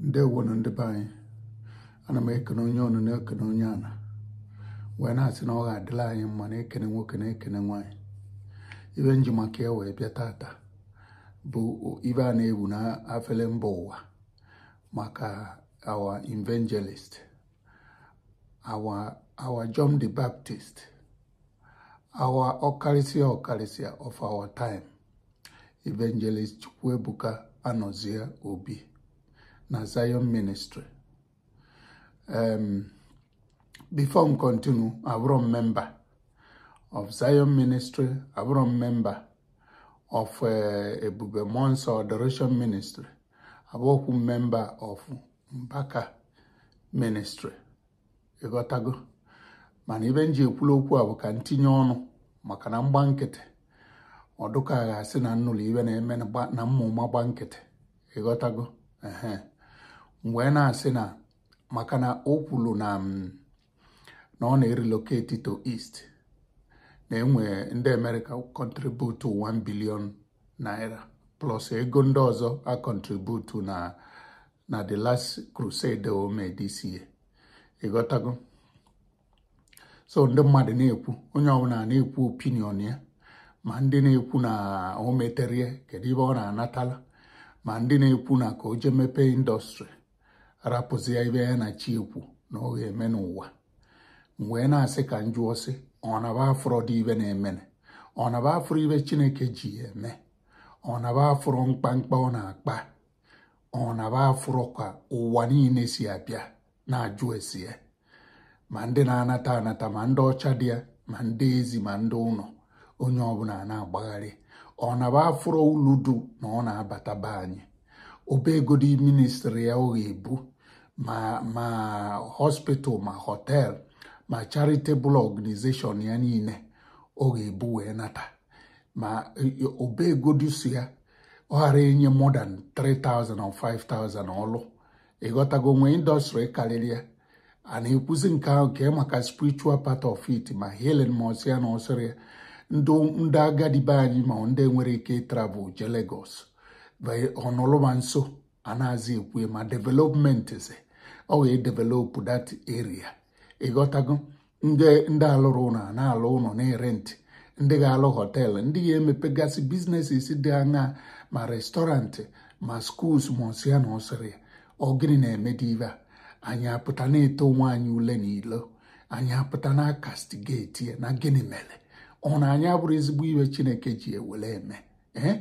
ndewo nụ ndị be anyị ana m ekene onye ọnụ na-ekene onye ana wee na-asị na ọ ga-adịlị anyị mma na ekene nwoke na ekene nwaanyị ibe m ji maka ya wee bịa tata bụ ibe a na-ewu na afele mba ụwa maka our evangelist our our John the Baptist our ọkarịsịa ọkarịsịa of our time Evangelist Chukwuebuka Anọzie Obi na Zion Ministry um, before m continue abụrọ m member of Zion Ministry abụrọ m member of uh, Ebube Mmụọ Nsọ Adoration Ministry abụọkwu m member of Mbaka Ministry ịghọtago mana ibe m ji ekwula okwu a bụ ka m tinye ọnụ maka na m gba nkịtị ọ dị ka a ga-asị na m nụlụ ibe na-eme na gba- na m ma ụma gba nkịtị ịghọtago ehe m wee na-asị na maka na o kwuru na m na ọ na-erelocate to east na enwe ndị America contribute 1 billion naira plus ego ndị ọzọ a contribute na na the last crusade o mee this year ịghọtago so ndị mmadụ na-ekwu onye ọbụla na-ekwu opinion ya ma ndị na-ekwu na o metere ya kedu ibe ọ na-anatala ma ndị na-ekwu na ka o jee mepee industry rapụzia ibe ya na chi ya kwu na ọ ga-eme n'ụwa wee na-asị ka m jụọ sị ọ na ba afụrọ ụdị ibe na-emenụ ọ na ba afụrọ ibe chineke ji ya eme ọ na ba afụrọ mkpamkpa ọ na-akpa ọ na ba afụrọ ka ụwa niile si abịa na-ajụ ese ya ma ndị na-anata anata ma ndị ọcha dị ya ma ndị ezi ma ndị ụlọ onye ọbụla na-agbagharị ọ na ba afụrọ ulu dị na ọ na-abata be anyị obegodi ministry ya ọ ga-ebu ma ma hospital ma hotel ma charitable organization ya niile ọ ga-ebu wee nata ma obegodi si ya ọ gaara enye more than 3000 or 5000 ọlụ ịghọtago e nwee industry karịrị ya a na-ekwuzi nke ahụ kee maka spiritual part of it ma healing ma ọsị ya na ọsịrị ya ndị agadi be anyị ma ndị enwerọ ike travel je Lagos ọ nọlụ ba nso a nazị ekwu ma developments ọ ga-edevelop that area ịghọtago ndị ndị alụrụ ụlọ a na-alụ ụlọ na-erent ndị ga-alụ hotel ndị ga-emepegasị businesses dị aṅaa ma restaurant ma schools ma ọsịa na ọsịrị ya ọ gịnị na-eme ụdị ibe a anyị apụta na-eto onwe anyị ule na ilo anyị apụta na-acastigate ya na gịnị mere ọ na anyị afụrọ ezigbo ibe chineke ji ya were eme ee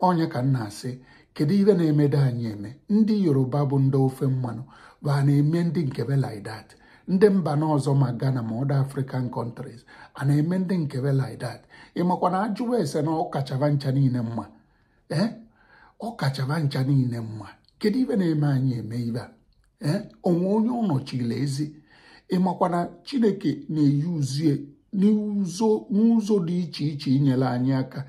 onye ka m na-asị kedu ibe na-emede anyị eme ndị yoruba bụ ndị ofe mmanụ ba na-eme ndị nke be like that ndị mba n'ọzọ ma Ghana ma other African countries a na-eme ndị nke be like that ịmakwa na ajụwa ese na ọ kacha ba ncha niile mma ee ọ kacha ba ncha niile mma kedu ibe na-eme anyị eme ibe a ee o nwe onye ọ nọchili ezi ịmakwa na chineke na-eyuzie n'ụzọ dị iche iche inyere anyị aka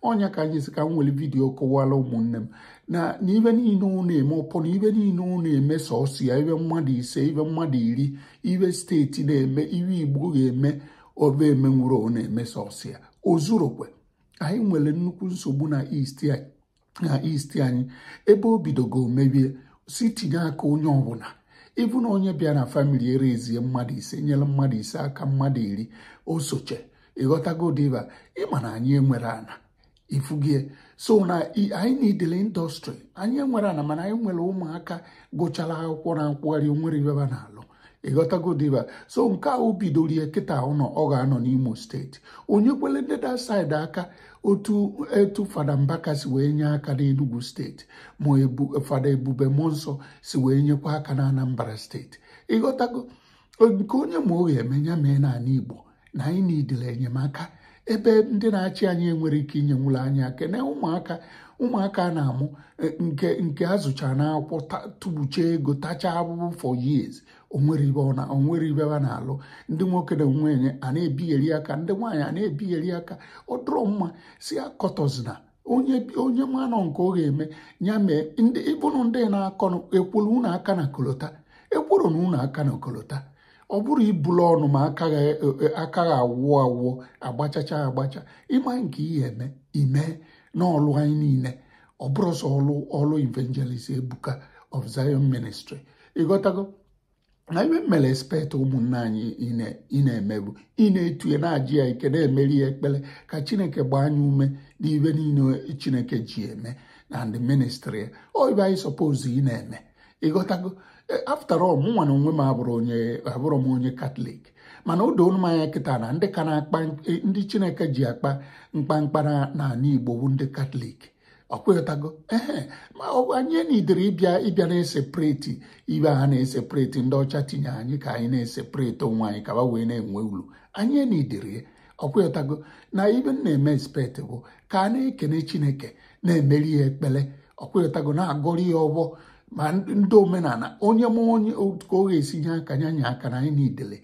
ọnya ka anyị si ka m were vidiyo kọwara ụmụnne m na na ibe niile ọ na-eme upon ibe niile ọ na-eme sọsọ ya ibe mmadụ ise ibe mmadụ iri ibe steeti na-eme ibe igbo ga-eme ba emenwurọ ọ na-eme sọsọ ya o zurokwe anyị nwere nnukwu nsogbu na East anyị na East anyị ebe o bidogo mebie si tinye aka onye ọbụla even onye bịa na famili erezie mmadụ ise nyere mmadụ ise aka mmadụ iri osoche ịghọtagodi ibe a ịma na anyị enwere ana ifugie so na anyị nidele industry anyị enwere ana mana anyị nwere ụmụaka gụchara akwụkwọ na-akwụgharị o nwere ibe ba na-alụ ịghọtagodi ibe a so nke a o bidoro ya kịta ọ nọ ọ ga-anọ n'imo steeti o nyekwuele ndị that side aka otu fada mbaka si wee nye aka n'enugwu steeti ma fada ebube mmụọ nsọ si wee nyekwa aka na anambra steeti ịghọtago nke onye ma ọ ga-eme ya mee n'ala igbo na anyị nidere enyemaka ebe ndị na-achị anyị enwere ike inyenwulu anyị aka na ụmụaka ụmụaka a na-amụ eh, nke nke a zụchara n'akwụkwọ ta- tubucha ego tachaa abụbụ for years onwere ibe ọ na- onwere ibe ha na-alụ ndị okenye a na-ebigheri aka ndị nwaanyị a na-ebigheri aka ọ dịrọ mma si akọtọzina onye onye manụ nke ọ ga-eme ya mee ndị ịbụrụ ndị na-akọ ọnụ ekwuru unu aka na kolota ekwuru na unu aka na kolota ọ bụrọ ibulu ọnụ ma akaghị awụ awụ agbachacha agbacha ịma nke i ya-eme i mee n'ọlụ anyị niile ọ bụrọ sọ ọlụ ọlụ evangelist ebuka of zion ministry ịghọtago na ibe mere expect ụmụnne anyị ị na-emebu ị na-etu ya na-aja ya ike na-emeri ya ekpere ka chineke gbaa ya ume n'ibe niile chineke ji eme na ndị ministri ya ọ ibe anyị sọpozu ị na-eme ịghọtago e, after all mụ nwa na onwe m abụrọ onye abụrọ m onye katọlik mana o doo m anya kịta na ndị ka na-akpa e, ndị chineke ji akpa mkpamkpa n'ala igbo bụ ndị katọlik ọkwa ịghọtago ee ma anyị enidere ịbịa ịbịa na-esepreti ibe ha na-esepreti ndị ọcha tinye anyị ka anyị na-esepreti onwe anyị ka ba wee na-enwe ulu anyị enidere ọkwa ịghọtago na ibe m na-eme expect bụ ka a na-ekene chineke na-emere ya ekpere ọ kwa ị ghọtago na-agọrọ ya ọfọ ma ndị omenala onye ma onye ka ọ ga-esi nye aka nye anyị aka na anyị niidele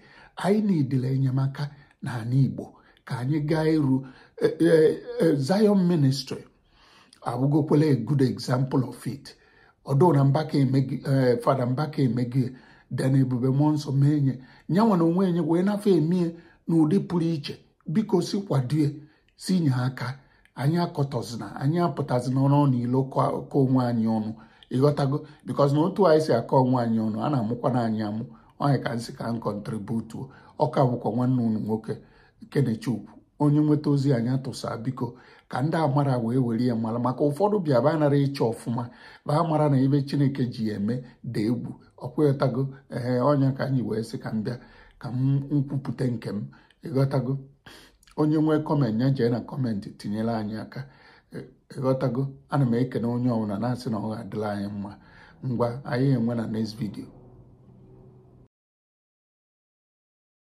anyị niidele enyemaka na ala Igbo ka anyị gaa iru e, e, e, Zion ministry abụgokwala a good example of it although na Mbaka emego ya Fada Mbaka emego ya then Ebube Mmụọ Nsọ mee nye nyanwa na onwe nye wee nafe emie n'ụdị pụrụ iche biko si kwadue tinye aka anyị akọtọzina anyị apụtazinanụ n'ilo kọọ onwe anyị ọnụ ị ghọtago because na otu anyị si akọ onwe anyị ọnụ a na-amụkwana anyị amụ ọ nya ka m sị ka m contribute ọ ka bụkwa nwanne unu nwoke Kenechukwu onye nweta ozi a nya tụsaa biko ka ndị amarọ wee were ya mara maka ụfọdụ bịa ba anara ịchọ ọfụma ba mara na ife Chineke ji ya eme dị egwu ọ kwa ị ghọtago ee ọ nya ka m ji wee sị ka m bịa ka m kwupụta nke m ị ghọtago onye nwee comment ya jee na comment tinyere anyị aka ị ghọtago e, e ana m ekene onye ọbụla na-asị na ọ ga-adịla anyị mma ngwa anyị enwe na next video